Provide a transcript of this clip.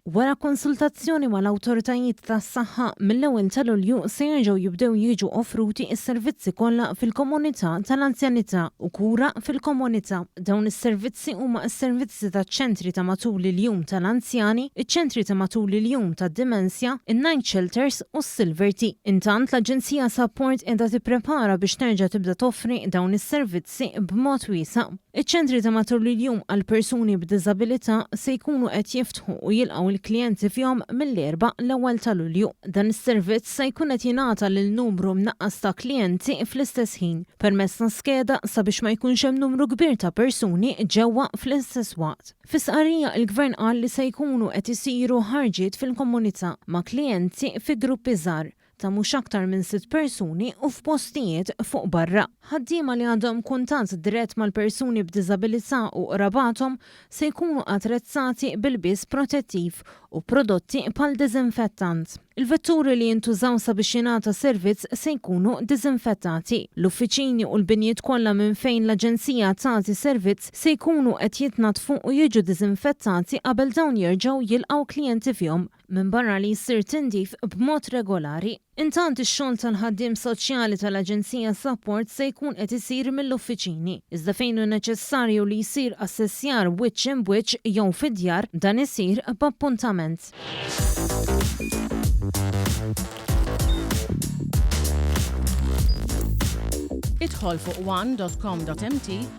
Wara konsultazzjoni mal-awtoritajiet tas-saħħa, mill-ewwel ta' Lulju se jerġgħu jibdew jiġu offruti s-servizzi kollha fil-komunità tal-anzjanità u kura fil-komunità. Dawn is-servizzi huma s-servizzi taċ-ċentri ta' matul il-jum tal-anzjani, iċ-ċentri ta' matul il-jum tad-dimensja, in-night shelters u s-Silver Tea. Intant, l-Aġenzija Sapport qiegħda tipprepara biex terġa' tibda toffri dawn is-servizzi. Grazzi b'mod wiesa'. Iċ-ċentri ta' matul il-jum għal persuni b'diżabilità se jkunu qed jiftħu u jilqgħu l-klijenti fihom mill-Erbgħa l-ewwel ta' Lulju. Dan is-servizz se jkun qed jingħata lil numru mnaqqas ta' klijenti fl-istess ħin, permezz ta' skeda sabiex ma jkunx hemm numru kbir ta' persuni ġewwa fl-istess waqt. Fi stqarrija il-Gvern qal li se jkunu qed isiru ħarġiet fil-komunità ma' klijenti fi gruppi żgħar ta' mhux aktar minn sitt persuni u f'postijiet fuq barra. Ħaddiema li għandhom kuntatt dirett mal-persuni b'diżabilità u qrabathom se jkunu attrezzati b'ilbies protettiv u prodotti bħal diżinfettant. Il-vetturi li jintużaw sabiex jingħata servizz se jkunu diżinfettati. L-uffiċini u l-binjiet kollha minn fejn l-Aġenzija tagħti servizz se jkunu qed jitnaddfu u jiġu diżinfettati qabel dawn jerġgħu jilqgħu klijenti fihom. minbarra li jsir tindif b'mod regolari. Intant ix-xogħol tal-ħaddiem soċjali tal-Aġenzija Support se jkun qed isir mill-uffiċini, iżda fejn hu neċessarju li jsir assessjar wiċċ imb wiċċ jew fid-djar, dan isir b'appuntament. Idħol fuq one dot com dot mt